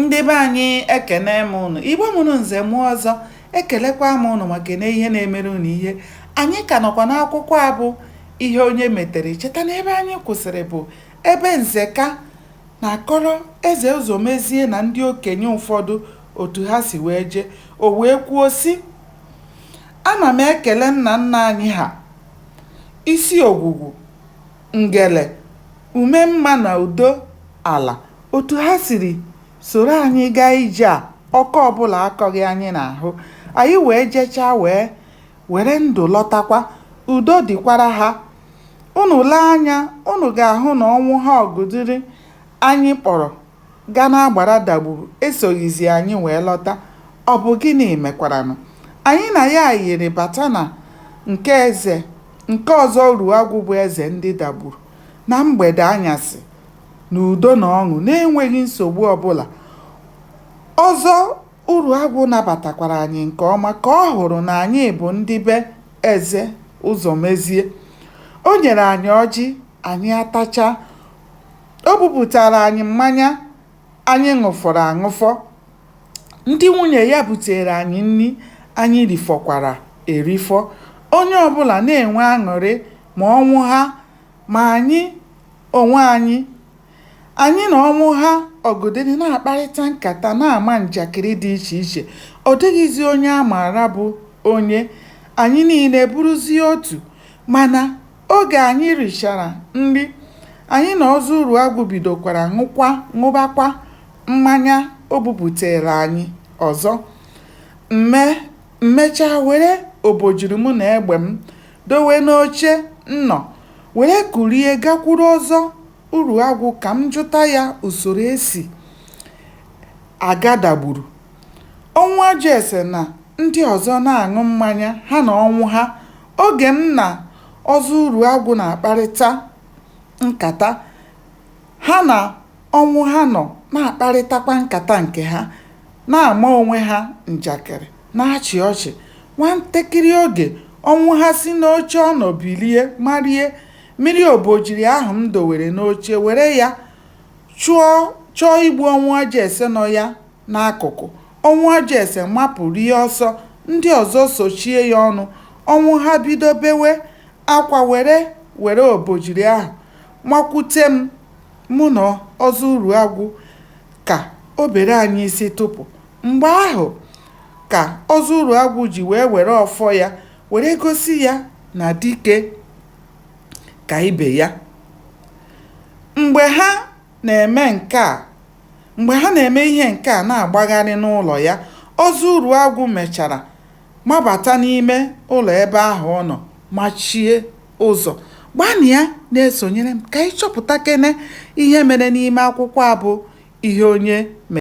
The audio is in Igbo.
ndị be anyị ekene m ụnụ igbo mụrụ nze mụọ ọzọ ekelekwa m ụnụ ma kene ihe na-emere ụnụ ihe anyị ka nọkwa n'akwụkwọ a bụ ihe onye metere cheta na ebe anyị kwụsịrị bụ ebe nzeka na-akọrọ eze ụzọmezie na ndị okenye ụfọdụ otu ha si wee jee o wee kwuo sị ana m ekele nna nna anyị ha isi ogwugwu Ngele, Umemma na Udo ala otu ha siri soro anyị gaa ije a ọkọ ọbụla akọghị anyị n'ahụ. Anyị wee jechaa wee were ndụ lọtakwa. Udo dịkwara ha. Ụnụ lee anya ụnụ ga-ahụ na Ọnwụha Ọgụdịrị anyị kpọrọ. gaa n'agbara Dagburu esoghịzi anyị wee lọta, ọ bụ gịnị mekwaranụ? Anyị na ya yiri bata na nke eze nke Ọzọ Uruagwụ bụ eze ndị Dagburu, na mgbede anyasị, n'udo na ọṅụ na-enweghị nsogbu ọ bụla. Ọzọ Uruagwụ nabatakwara anyị nke ọma ka ọ hụrụ na anyị bụ ndị be eze Ụzọmezie. O nyere anyị ọjị, anyị atachaa. O bupụtaara anyị mmanya anyị ṅụfọrọ aṅụfọ. Ndị nwunye ya buteere anyị nri anyị rifọkwara erifọ. Onye ọ bụla na-enwe aṅụrị ma Ọnwụha ma anyị onwe anyị. Anyị na Ọnwụha Ọgụdịrị na-akparịta nkata, na-ama njakịrị dị iche iche. Ọ dịghịzi onye a maara bụ onye. Anyị niile bụrụzie otu. Mana Oge anyị richara nri, anyị na Ọzọ Uruagwụ bidokwara ṅụkwa ṅụbakwa mmanya o buputeere anyị ọzọ. M mechaa were obojiri mụ na egbe m dowe n'oche m nọ were kulie gakwuru Ọzọ Uruagwụ ka m jụta ya usoro e si aga Dagburu. Ọnwụajụese na ndị ọzọ na-aṅụ mmanya ha na Ọnwụha Oge m na Ọzọ Uruagwụ na-akparịta nkata, ha na Ọnwụha nọ na-akparịtakwa nkata nke ha, na-ama onwe ha njakịrị, na-achị ọchị. Nwantakịrị oge, Ọnwụha si n'oche ọ nọ bilie marie mịrị obojiri ahụ m dowere n'oche, were ya chọ chọọ igbu Ọnwụajụese nọ ya N'akụkụ, Ọnwụajụese mapụ rie ọsọ, ndị ọzọ sochie ya ọnụ, Ọnwụha bido bewe akwa were were obojiri ahụ makwute m, mụ na Ọzọ Uruagwụ ka o bere anyị isi tụpụ. Mgbe ahụ ka Ọzọ Uruagwụ ji wee were ọfọ ya were gosi ya na dike ka ibe ya. Mgbe ha na-eme nke a Mgbe ha na-eme ihe nke a na-agbagharị n'ụlọ ya, Ọzọ Uruagwụ mechara mabata n'ime ụlọ ebe ahụ ọ nọ machie ụzọ. Gbanịa na-esonyere m ka anyị chọpụtakene ihe mere n'ime akwụkwọ a bụ Ihe Onye Mere.